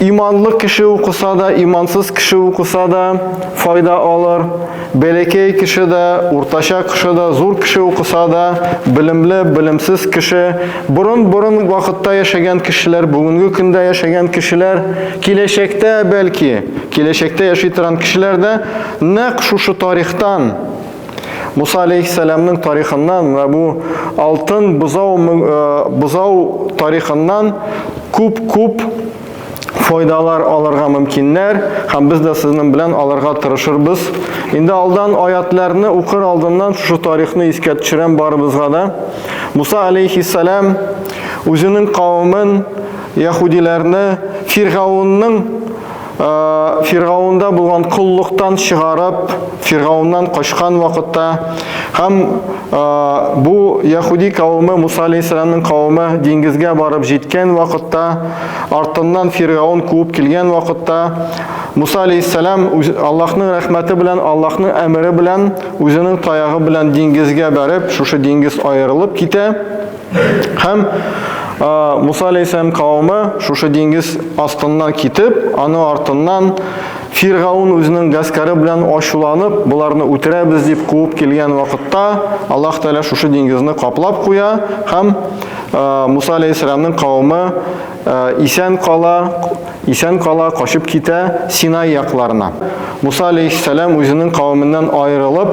Иманлы кеше укыса да, имансыз кеше укыса да файда алыр. Бәләкәй кеше дә, уртача кеше дә, зур кеше укыса да, белемле, белемсез кеше, борын-борын вакытта яшәгән кешеләр, бүгенге көндә яшәгән кешеләр, киләчәктә бәлки, киләчәктә яши торган кешеләр дә нәкъ шушы тарихтан Муса алейхиссәламның тарихыннан менә бу алтын бозау бозау тарихыннан күп-күп файдалар алырга мөмкиннәр һәм без дә сезнең белән алырга тырышырбыз. Инде алдан аятларны укыр алдыннан шушы тарихны искә төшерәм барыбызга да. Муса алейхиссәлам үзенең кавымын, яһудиләрне Фиргаунның Фиргаунда булган коллыктан чыгарып, Фиргауннан качкан вакытта һәм бу яһуди кавымы Муса алейхиссаламның кавымы диңгезгә барып җиткән вакытта, артыннан Фиргаун куып килгән вакытта Муса алейхиссалам Аллаһның рәхмәте белән, Аллаһның әмере белән, үзенең таягы белән диңгезгә барып, шушы диңгез аерылып китә. Һәм Муса алейхиссәлам кавымы шушы диңгез астыннан китеп, аны артыннан Фиргаун үзенең гаскәре белән ачуланып, боларны үтерәбез дип куып килгән вакытта, Аллаһ Тәгалә шушы диңгезне каплап куя һәм Муса алейхиссәламның кавымы исән кала, исән кала качып китә Синай якларына. Муса алейхиссәлам үзенең кавымыннан аерылып,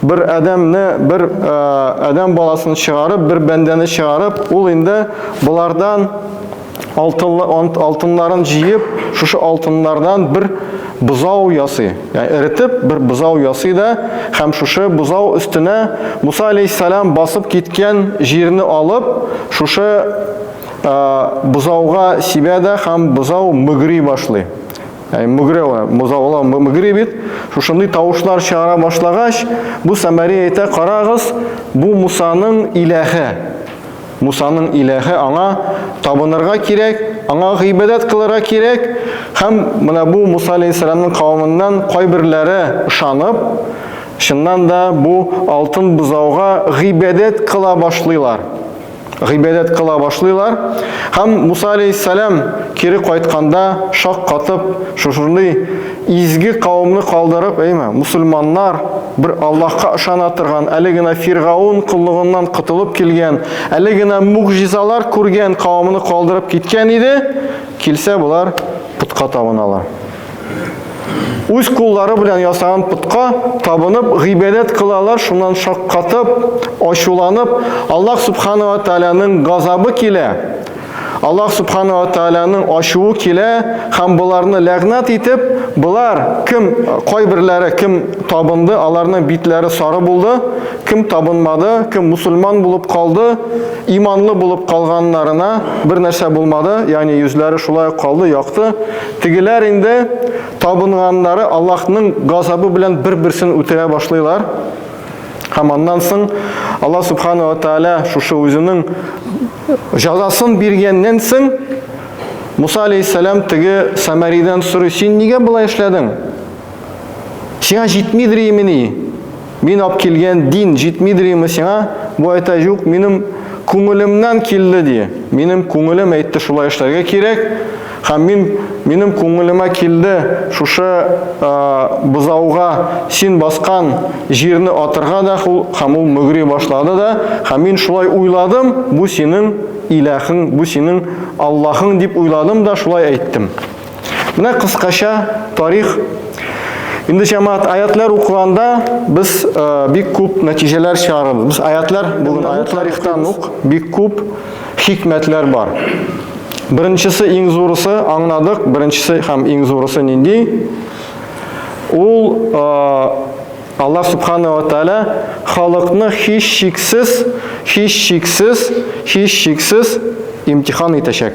Бер адәмне, бер э, адәм баласын чыгарып, бер бәндәне чыгарып, ул инде болардан алтынларын җыеп, шушы алтыннардан бер бозау ясый. Яни эритеп бер бозау ясый да, һәм шушы бозау өстенә Муса алейхиссалам басып киткән җирне алып, шушы бозауга сибә дә һәм бозау мөгри башлый. Ә мөгре ала, мозавла мөгре бит. Шушындый тавышлар чыгара башлагач, бу Самари әйтә, карагыз, бу Мусаның иләһе. Мусаның иләһе аңа табынырга кирәк, аңа гыйбадәт кылырга кирәк. Һәм менә бу Муса алейхиссаламның кавымыннан кайберләре ышанып, чыннан да бу алтын бозауга гыйбадәт кыла башлыйлар. гыйбадәт кыла башлыйлар. Һәм Муса алейхиссалам кире кайтканда шак катып, шушындый изге кавымны калдырып, әйме, мусульманнар бер Аллаһка ышана торган, әле генә Фиргаун коллыгыннан котылып килгән, әле генә мугъҗизалар күргән кавымны калдырып киткән иде, килсә болар путка табыналар. үз куллары белән ясаган путка табынып гыйбадәт кылалар, шуннан шаккатып, ачуланып, Аллаһ субхана ва тааляның газабы килә. Аллаһ субхана ва тааляның ачуы килә һәм боларны ләгънат итеп, болар кем кайберләре кем табынды, аларның битләре сары булды, кем табынмады, кем мусульман булып калды, иманлы булып калганнарына бер нәрсә булмады, ягъни йөзләре шулай калды, якты. Тегеләр инде табынганнары Аллаһның газабы белән бер-берсен үтерә башлыйлар. Һәм аннан соң Аллаһ Субхану ва Тааля шушы үзенең җазасын биргәннән соң Муса алейхиссалам теге Самаридән сорый, син нигә болай эшләдең? Сиңа җитмидер имени? Мин ап килгән дин җитмидерме сиңа? Бу әйтә юк, минем күңелемнән килде ди. Минем күңелем әйтте шулай эшләргә кирәк. Һәм мин минем күңелемә килде шушы ә, бозауга син баскан җирне атырга да хул, һәм ул мөгри башлады да, һәм мин шулай уйладым, бу синең иләхең, бу синең Аллаһың дип уйладым да шулай әйттем. Менә кыскача тарих. Инде җәмәгать аятлар укыганда без э, бик күп нәтиҗәләр чыгарабыз. Без аятлар бүген аят тарихтан ук бик күп хикмәтләр бар. Беренчесе иң зурысы аңладык, беренчесе һәм иң зурысы нинди? Ул э, Аллаһ субхана ва тааля халыкны һич шиксез, һич шиксез, һич шиксез имтихан итәчәк.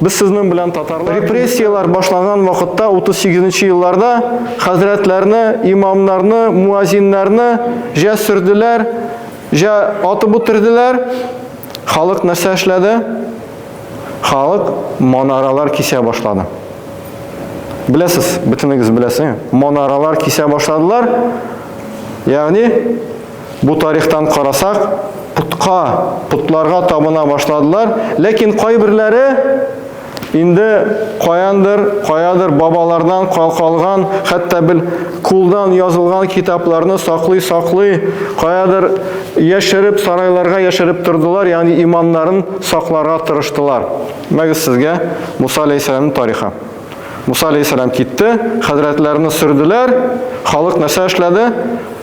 Без сезнең белән татарлар репрессияләр башлаган вакытта 38 нче елларда хәзрәтләрне, имамнарны, муазиннарны җә сөрделәр, җә атып үтерделәр. Халык нәрсә эшләде? Халык монаралар кисә башлады. Беләсез, бөтенегез беләсез. Монаралар кисә башладылар. Ягъни Бу тарихтан карасак, путка, путларга табына башладылар, ләкин кайберләре инде каяндыр, каядыр бабалардан калкалган, хәтта бел кулдан язылган китапларны саклый-саклый, каядыр яшереп, сарайларга яшереп тордылар, ягъни иманнарын сакларга тырыштылар. Мәгез сезгә Муса алейхиссәламның тарихы. Муса алейхиссәлам китте, хәзрәтләрне сөрделәр, халык нәрсә эшләде?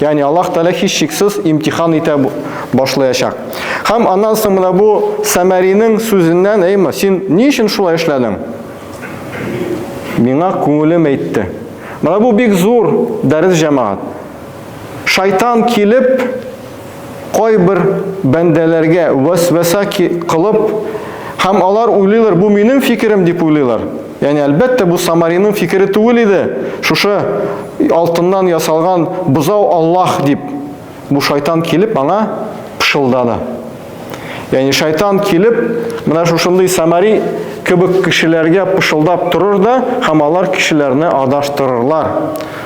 Ягъни Аллаһ Тәгалә һичшиксез имтихан итә башлаячак. Һәм аннан соң менә бу Сәмәринең сүзеннән, әйме, син ни өчен шулай эшләдең? Миңа күңелем әйтте. Менә бу бик зур дәрес җәмәгать. Шайтан килеп, Кайбер бәндәләргә вәсвәсә кылып, һәм алар уйлыйлар, бу минем фикерем дип уйлыйлар. Яни әлбәттә бу Самариның фикере түгел иде. Шушы алтыннан ясалган бозау Аллаһ дип бу шайтан килеп аңа пышылдады. Яни шайтан килеп, менә шушындый Самари кебек кешеләргә пышылдап торыр да, һәм алар кешеләрне адаштырырлар.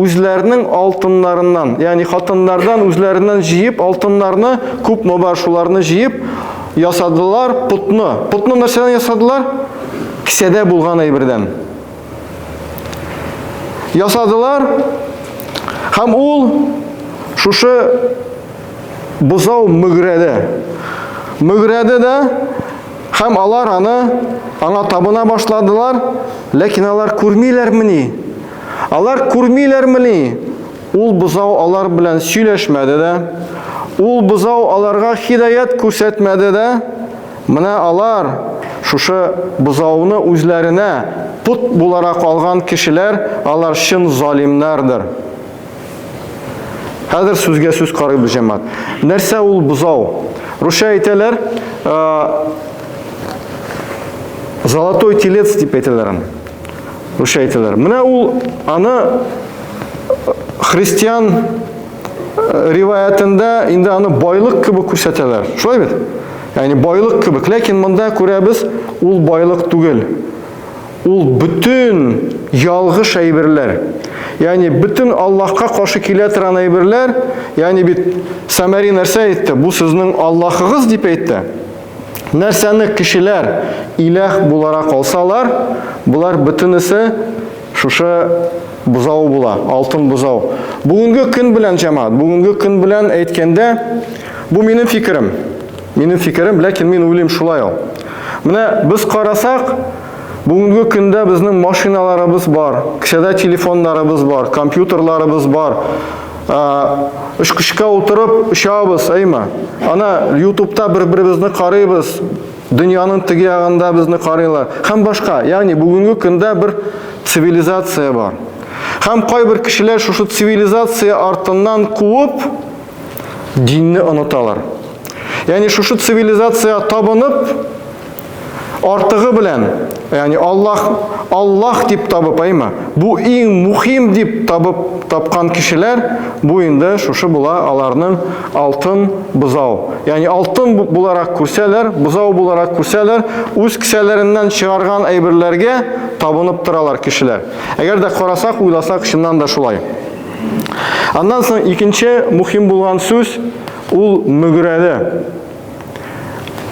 үзләренең алтыннарыннан, ягъни хатыннардан үзләреннән җыеп алтыннарны, күпме бар шуларны җыеп ясадылар потны. Потны нәрсәдән ясадылар? Кесәдә булган әйбердән. Ясадылар һәм ул шушы бозау мөгрәде. Мөгрәде дә һәм алар аны аңа табына башладылар, ләкин алар күрмиләрмени? Алар күрмиләрмени? Ул бозау алар белән сөйләшмәде дә. Ул бозау аларга хидаят күрсәтмәде дә. Менә алар, шушы бозауны үзләренә пот буларак алган кешеләр, алар чын залимнардыр. Хәзер сүзгә сүз карыйбыз, җәмәгать. Нәрсә ул бозау? Русча әйтәләр, золотой телец дип әйтәләр аны. Үчә әйтәләр. Менә ул аны э, христиан э, риваятендә инде аны байлык кебек күрсәтәләр. Шулай бит? Ягъни байлык кебек. Ләкин монда күрәбез, ул байлык түгел. Ул бөтен ялгыш әйберләр. Ягъни бөтен Аллаһка каршы килә торган әйберләр, ягъни бит Самари нәрсә әйтте? Бу сезнең Аллаһыгыз дип әйтте. Нәрсәне кешеләр иләх буларак алсалар, болар бөтенесе шушы бозау була, алтын бозау. Бүгенге көн белән, җәмәгать, бүгенге көн белән әйткәндә, бу минем фикерем. Минем фикерем, ләкин мин уйлыйм шулай ул. Менә без карасак, бүгенге көндә безнең машиналарыбыз бар, кесәдә телефоннарыбыз бар, компьютерларыбыз бар. Очкычка утырып очабыз, әйме? Ана ютубта бер-беребезне карыйбыз, дөньяның теге ягында безне карыйлар. Һәм башка, ягъни бүгенге көндә бер цивилизация бар. Һәм кайбер кешеләр шушы цивилизация артыннан куып, динне оныталар. Ягъни шушы цивилизация табынып, Артыгы белән, яни Аллах, Аллах дип табып, әйме? Бу иң мухим дип табып тапкан кешеләр, бу инде шушы була аларның алтын бузау. Яни алтын буларак күрсәләр, бузау буларак күрсәләр, үз кесәләреннән чыгарган әйберләргә табынып торалар кешеләр. Әгәр дә карасак, уйласак, чыннан да шулай. Аннан соң икенче мухим булган сүз ул мөгрәле.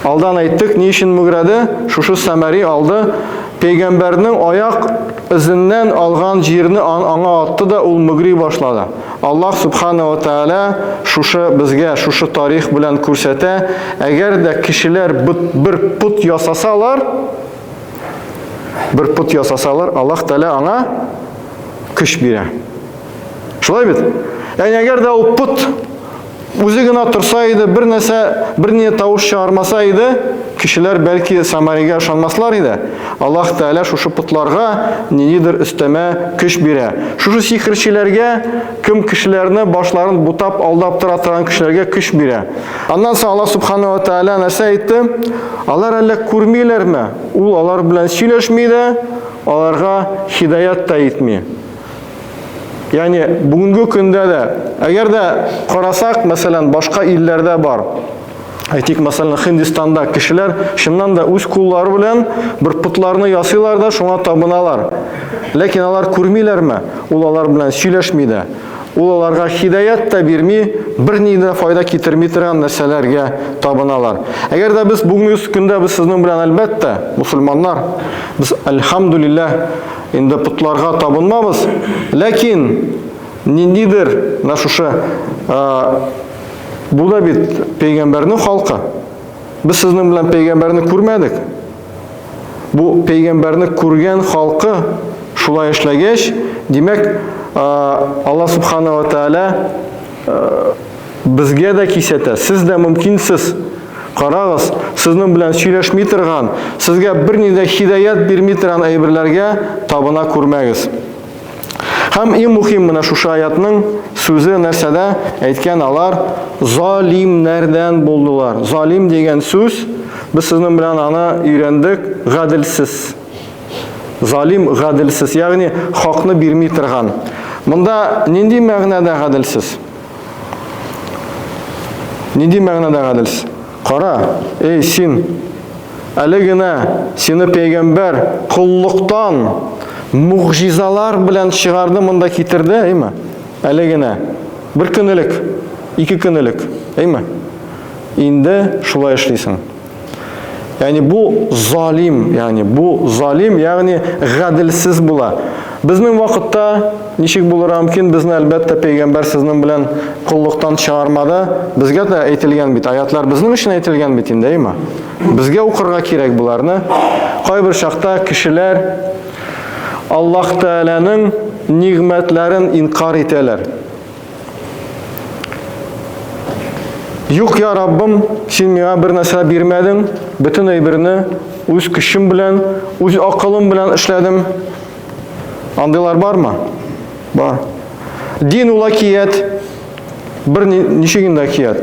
Алдан әйттек, ни өчен мөгрәде? Шушы Сәмәри алды. Пәйгамбәрнең аяк эзеннән алган җирне аңа атты да ул мөгри башлады. Аллаһ субхана ва тааля шушы безгә шушы тарих белән күрсәтә, әгәр дә кешеләр бер пут ясасалар, бер пут ясасалар, Аллаһ тааля аңа көч бирә. Шулай бит? Әгәр дә ул пут Үзе генә торса иде, бер нәрсә, бер ни тавыш чыгармаса иде, кешеләр бәлки Самаригә ышанмаслар иде. Аллаһ Тәгалә шушы путларга ниндидер өстәмә көч бирә. Шушы сихерчеләргә, кем кешеләрне башларын бутап, алдап тора торган кешеләргә көч бирә. Аннан соң Аллаһ Субхану ва Тәгалә нәрсә әйтте? Алар әллә күрмиләрме? Ул алар белән сөйләшми дә, аларга хидаят та итми. Яни бүгенге көндә дә, әгәр дә карасак, мәсәлән, башка илләрдә бар. Әйтик, мәсәлән, Хиндистанда кешеләр чыннан да үз куллары белән бер путларны ясыйлар да шуңа табыналар. Ләкин алар күрмиләрме? Ул алар белән сөйләшми дә. Ул аларга хидаят та бирми, берни дә файда китерми торган нәрсәләргә табыналар. Әгәр дә без бүгенге көндә без сезнең белән әлбәттә, мусульманнар, без альхамдулиллаһ Инде потларга табынмабыз, ләкин ниндидер менә шушы бу да бит пәйгамбәрнең халкы. Без сезнең белән пәйгамбәрне күрмәдек. Бу пәйгамбәрне күргән халкы шулай эшләгәч, димәк, Алла субханала тәала Безгә дә кисәтә, сез дә мөмкинсез. Карагыз, сезнең белән сөйләшми торган, сезгә берни дә хидаят бирми торган әйберләргә табына күрмәгез. Һәм иң мөһим менә шушы аятның сүзе нәрсәдә әйткән алар залимнәрдән булдылар. Залим дигән сүз без сезнең белән аны өйрәндек, гаделсез. Залим гаделсез, ягъни хакны бирми торган. Монда нинди мәгънәдә гаделсез? Нинди мәгънәдә гаделс? Кара, эй син, әле генә сине пәйгамбәр коллыктан мугъжизалар белән чыгарды монда китерде, әйме? Әле генә бер көн элек, ике көн элек, әйме? Инде шулай эшлисең. Ягъни бу залим, ягъни бу залим, ягъни гаделсез була. Безнең вакытта ничек булырга мөмкин? Безне әлбәттә пәйгамбәр сезнең белән коллыктан чыгармады. Безгә дә әйтелгән бит, аятлар безнең өчен әйтелгән бит инде, әйме? Безгә укырга кирәк буларны. Кайбер чакта кешеләр Аллаһ Тәгаләнең нигъмәтләрен инкар итәләр. Юк, я Раббым, син миңа бер нәрсә бирмәдең, бөтен әйберне үз көчем белән, үз акылым белән эшләдем. Андыйлар бармы? Бар. Дин ул акият, бер ничек инде акият.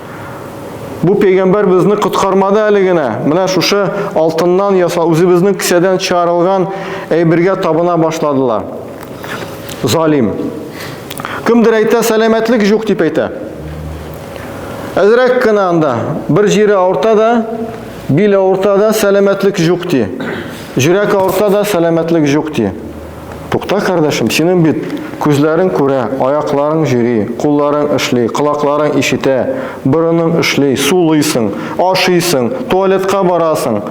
Бу пәйгамбәр безне коткармады әле генә. Менә шушы алтыннан ясал үзебезнең кесәдән чыгарылган әйбергә табына башладылар. Залим. Кемдер әйтә, сәламәтлек юк дип әйтә. Әзрәк кенә анда бер җире авырта да, бил авырта да, сәламәтлек юк ди. Җөрәк авырта да, сәламәтлек юк ди. Тукта, кардәшем, синең бит күзләрең күрә, аякларың җөри, кулларың эшли, колакларың ишетә, борының эшли, сулыйсың, ашыйсың, туалетка барасың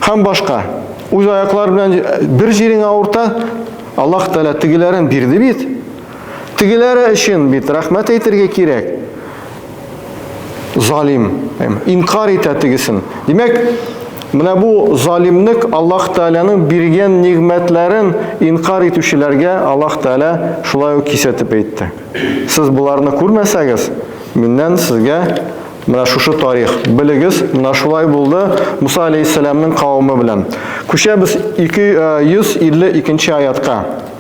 һәм башка. Үз аяклар белән бер җирең авырта, Аллаһ Тәгалә тегеләрен бирде бит. Тегеләре өчен бит рәхмәт әйтергә кирәк. Залим, инкар итә тегесен. Димәк, менә бу залимлек Аллаһ Тәгаләнең биргән нигъмәтләрен инкар итүчеләргә Аллаһ Тәгалә шулай ук кисәтеп әйтте. Сез боларны күрмәсәгез, миннән сезгә Менә шушы тарих. Белегез, менә шулай булды Муса алейхиссаламның кавымы белән. Күчәбез 252 аятка.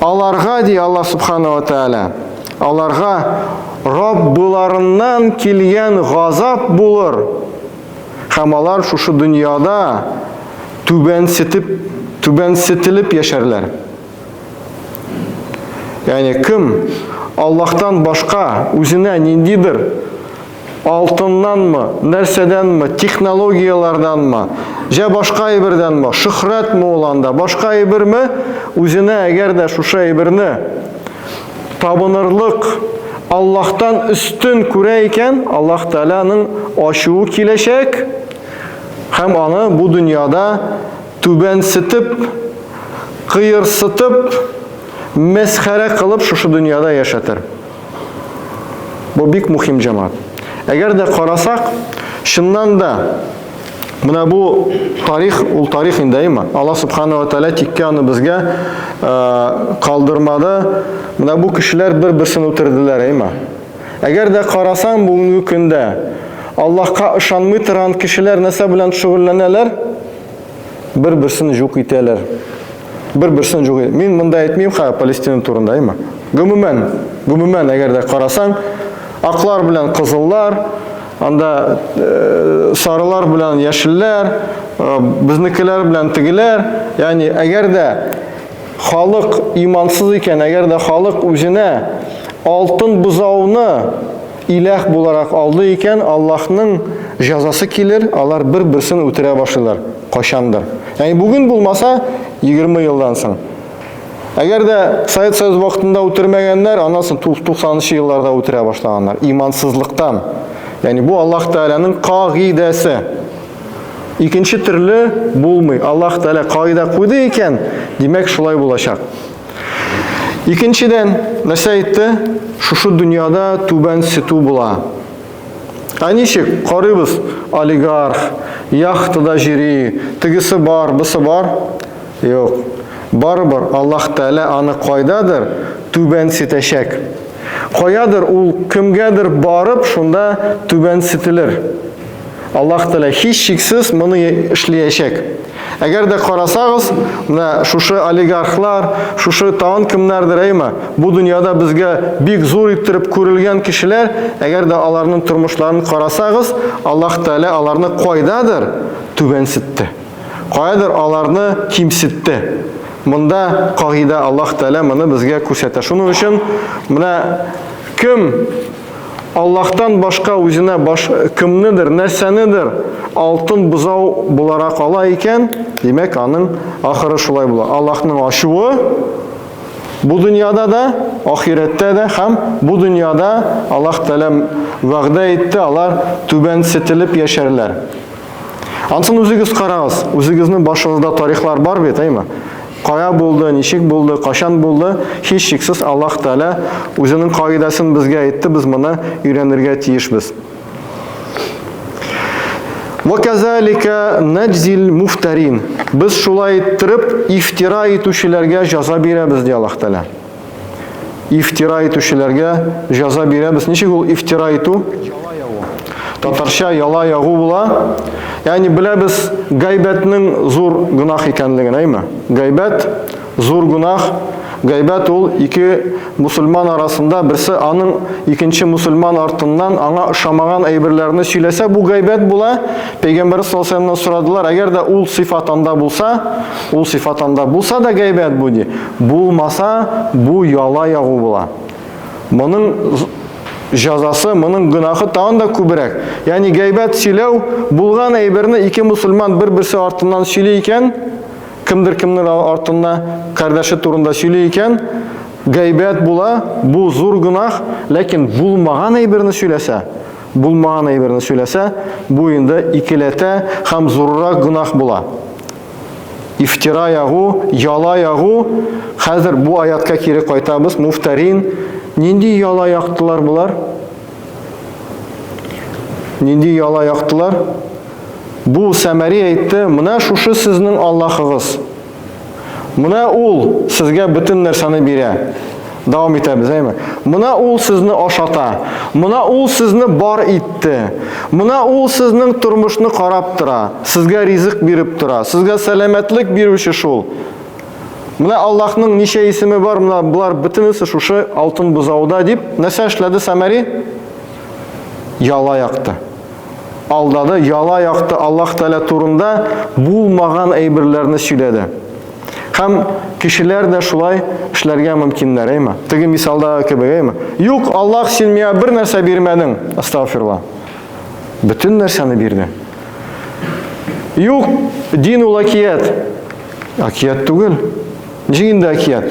Аларга, ди Аллаһ Субхану ва Тәгалә, аларга Раббыларыннан килгән газап булыр. Һәм алар шушы дөньяда түбәнсетеп, түбәнсетелеп яшәрләр. Ягъни кем Аллаһтан башка үзенә ниндидер Алтыннанмы, нәрсәдәнме, технологияләрдәнме, җә башка әйбердәнме, шөхрәтме ул анда, башка әйберме, үзенә әгәр дә шушы әйберне табынырлык Аллаһтан өстен күрә икән, Аллаһ Тәгаләнең ачуы киләчәк һәм аны бу дөньяда түбәнсетеп, кыерсытып, мәсхәрә кылып шушы дөньяда яшәтер. Бу бик мухим җамат. Әгәр дә карасак, чыннан да Менә бу тарих, ул тарих инде әйме? Алла Субхану ва Тәлә тиккә аны безгә э, калдырмады. Менә бу кешеләр бер берсен үтерделәр әйме? Әгәр дә карасаң бүгенге көндә Аллаһка ышанмый торган кешеләр нәрсә белән шөгыльләнәләр? Бер-берсен җук итәләр. Бер-берсен җук итә. Мин монда әйтмим ха Палестина турында, әйме? Гомумән, гомумән әгәр дә карасаң, аклар белән кызыллар, анда э, сарылар белән яшелләр, э, безнекеләр белән тегеләр, ягъни әгәр дә халык имансыз икән, әгәр дә халык үзенә алтын бозауны Иләх буларак алды икән, Аллаһның җәзасы килер, алар бер-берсен үтерә башлыйлар, кайчандыр. Ягъни бүген булмаса, 20 елдан соң. Әгәр дә Совет Союзы вакытында үтермәгәннәр, аннан соң 90-нчы елларда үтерә башлаганнар, имансызлыктан. Ягъни бу Аллаһ Тәгаләнең кагыйдәсе. Икенче төрле булмый. Аллаһ Тәгалә кагыйдә куйды икән, димәк шулай булачак. Икенчедән, нәрсә әйтте? Шушы дөньяда түбән сету була. Ә ничек? Карыйбыз, олигарх, яхтада җири, тегесе бар, бысы бар. Юк. Барыбер Аллаһ Тәгалә аны кайдадыр түбән сетәчәк. Каядыр ул кемгәдер барып, шунда түбән сетелер. Аллаһ Тәгалә һичшиксез моны эшләячәк. Әгәр дә карасагыз, менә шушы олигархлар, шушы тагын кемнәрдер әйме, бу дөньяда безгә бик зур иттереп күрелгән кешеләр, әгәр дә аларның тормышларын карасагыз, Аллаһ Тәгалә аларны кайдадыр түбәнсетте. Кайдыр аларны кимсетте. Монда кагыйдә Аллаһ Тәгалә моны безгә күрсәтә. Шуның өчен менә кем Аллаһтан башка үзенә баш кемнедер, нәрсәнедер алтын бозау буларак ала икән, димәк, аның ахыры шулай була. Аллаһның ачуы бу дөньяда да, ахирәттә дә һәм бу дөньяда Аллаһ Тәгалә вәгъдә итте, алар түбәнсетелеп яшәрләр. Ансын үзегез карагыз, үзегезнең башыгызда тарихлар бар бит, әйме? Кая булды, ничек булды, качан булды, һичшиксез Аллаһ Тәгалә үзенең кагыйдәсен безгә әйтте, без моны өйрәнергә тиешбез. Ва казалика наджзил муфтарин. Без шулай иттереп ифтира итүчеләргә җаза бирәбез, ди Аллаһ Тәгалә. Ифтира итүчеләргә җәза бирәбез. Ничек ул ифтира итү? Татарча яла ягу була. Ягъни беләбез гайбәтнең зур гунах икәнлеген, әйме? Гайбәт зур гунах. Гайбәт ул ике мусульман арасында берсе аның икенче мусульман артыннан аңа ошамаган әйберләрне сөйләсә, бу гайбәт була. Пәйгамбәр саллаллаху алейһи сорадылар, әгәр дә ул сыйфат анда булса, ул сыйфат анда булса да гайбәт бу ди. Булмаса, бу яла ягу була. Моның җәзасы, моның гөнаһы тагын да күбрәк. Ягъни гайбәт сөйләү, булган әйберне ике мусульман бер-берсе артыннан сөйли икән, кемдер кемнер артында кардәше турында сөйли икән, гайбәт була, бу зур гөнаһ, ләкин булмаган әйберне сөйләсә, булмаган әйберне сөйләсә, бу инде икеләтә һәм зуррак гөнаһ була. Ифтира ягу, яла ягу. Хәзер бу аятка кире кайтабыз. Муфтарин. Нинди яла яктылар булар? Нинди яла яктылар? Бу Сәмәри әйтте, менә шушы сезнең Аллахыгыз. Менә ул сезгә бөтен нәрсәне бирә. Дәвам итәбез, әйме? Мына ул сезне ашата. Мына ул сезне бар итте. Мына ул сезнең тормышны карап тора, сезгә ризык биреп тора, сезгә сәламәтлек бирүче шул. Менә Аллаһның ничә исеме бар, менә болар бөтенесе шушы алтын бозауда дип нәрсә эшләде Самари? Яла якты. Алдады, яла якты Аллаһ Тәгалә турында булмаган әйберләрне сөйләде. Һәм кешеләр дә шулай эшләргә мөмкиннәр, әйме? Теге мисалда кебек, әйме? Юк, Аллаһ син миңа бер нәрсә бирмәдең. Астагфирулла. Бөтен нәрсәне бирде. Юк, дин ул акият. Акият түгел. Ничек инде акият?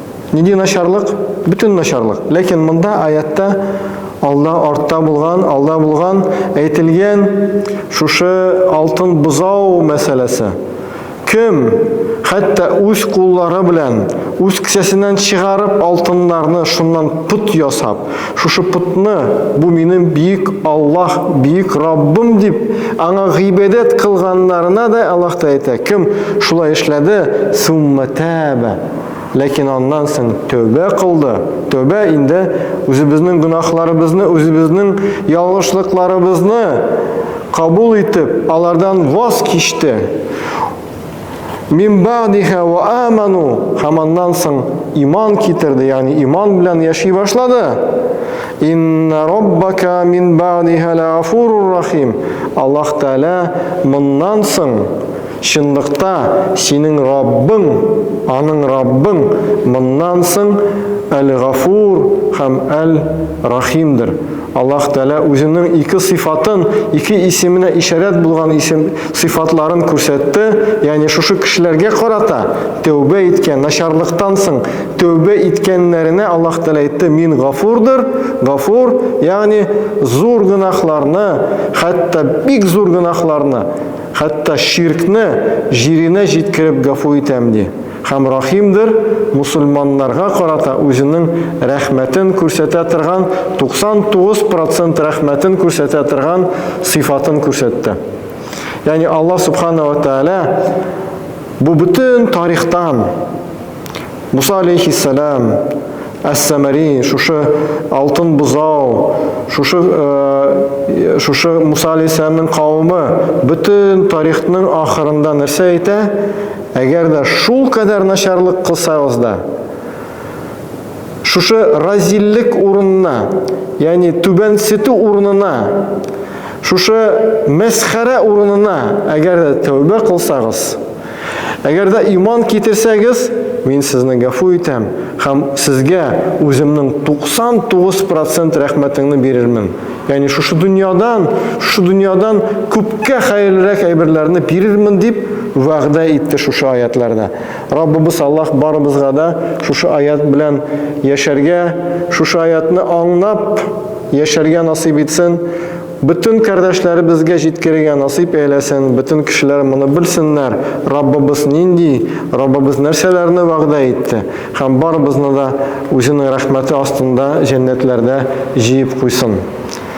Нинди начарлык? Бөтен начарлык. Ләкин монда аятта алда артта булган, алда булган әйтелгән шушы алтын бозау мәсьәләсе. Кем хәтта үз куллары белән үз кесәсеннән чыгарып алтыннарны шуннан пут ясап, шушы путны бу минем бик Аллаһ, бик Раббым дип аңа гыйбадәт кылганнарына да Аллаһ та әйтә. Кем шулай эшләде? Сумматаба. Ләкин аннан соң тәүбә кылды. Тәүбә инде үзебезнең гөнаһларыбызны, үзебезнең ялгышлыкларыбызны кабул итеп, алардан ваз кичте. Мин бадиха ва аману һәм аннан соң иман китерде, ягъни иман белән яши башлады. Инна роббака мин бадиха ла афурур рахим. Аллаһ Тәгалә моннан соң Чынлыкта, синең Раббың, аның Раббың моннан соң Әл-Гафур һәм Әл-Рахимдер. Аллаһ Тәгалә Үзенең ике сыйфатын, ике исеменә ишарәт булган исем, сыйфатларын күрсәтте, ягъни шушы кешеләргә карата, тәүбә иткән, начарлыктан соң тәүбә иткәннәренә Аллаһ Тәгалә әйтте, Мин Гафурдыр, Гафур, ягъни зур гөнаһларны, хәтта бик зур гөнаһларны, Хәтта ширкне җиренә җиткереп гафу итәм, ди, һәм рәхимдер, мөселманнарга карата үзенең рәхмәтен күрсәтә торган, 99 процент рәхмәтен күрсәтә торган сыйфатын күрсәтте. Ягъни Аллаһ Субхана ва Тәгалә бу бөтен тарихтан Муса алейхиссалам, Әс-Сәмәри, шушы алтын бозау, шушы, э, шушы Муса алейхиссаламның кавымы бөтен тарихның ахырында нәрсә әйтә? Әгәр дә шул кадәр начарлык кылсагыз да, шушы разиллек урынына, ягъни түбәнсетү урынына, шушы мәсхәрә урынына әгәр дә тәүбә кылсагыз, Әгәр дә иман китерсәгез, мин сезне гафу итәм һәм сезгә үземнең 99% рәхмәтеңне бирермен. Ягъни шушы дөньядан, шушы дөньядан күпкә хәерлерәк әйберләрне бирермен дип вәгъдә итте шушы аятларда. Раббыбыз Аллаһ барыбызга да шушы аят белән яшәргә, шушы аятны аңнап яшәргә насыйп итсен. Бөтен кардәшләребезгә җиткерергә насыйп әйләсен, бөтен кешеләр моны белсеннәр, Раббыбыз нинди, Раббыбыз нәрсәләрне вәгъдә итте, һәм барыбызны да Үзенең рәхмәте астында җәннәтләрдә җыеп куйсын.